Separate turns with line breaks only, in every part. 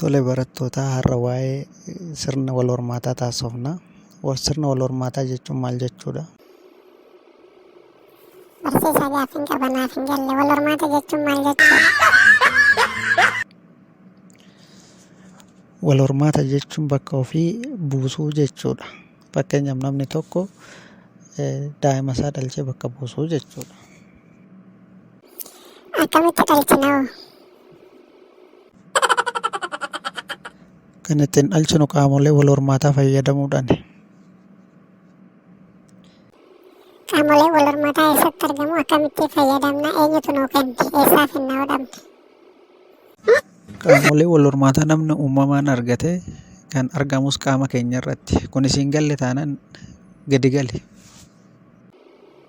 Tole barattootaa har'a waa'ee sirna wal hormaataa taasofna. Sirna wal hormaataa jechuun maal jechuudha? Barsiisaa
gaaffiin qaba naaf hin galle wal hormaata jechuun maal jechuudha?
Wal hormaata jechuun bakka ofii buusuu jechuudha. Fakkeenyaaf namni tokko daa'ima isaa dhalchee bakka buusuu jechuudha. Akkamitti
dhalchina hoo?
Kan ittiin dhalchinu qaamolee wal hormaataa fayyadamuudhaani.
Qaamoleen wal hormataa eessatti argamu? Akkamitti fayyadamna? Eenyutu nuu kenne? Eessaa finna hodhamne?
Qaamolee wal hormaataa namni uumamaan argate kan argamus qaama keenya irratti. Kun siin galle taanaan gadi gali.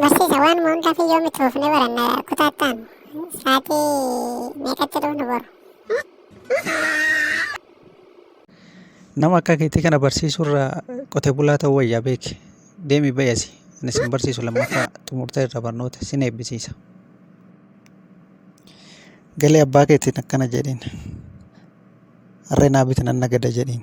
Barsiisa waan hundaa fi yoom itti fufnee baranna kutaattaan sa'aatii meeqatti dhufnu boru.
Nama akka keetii kana barsiisurra qotee bulaa ta'uu wayyaa beeki. Deemi bayasi. Ani sin barsiisu lammaffaa xumurtee irra barnoota sin eebbisiisa. Galee abbaa keetiin akkana jedhiin. Harree naa biti nan nagada jedhiin.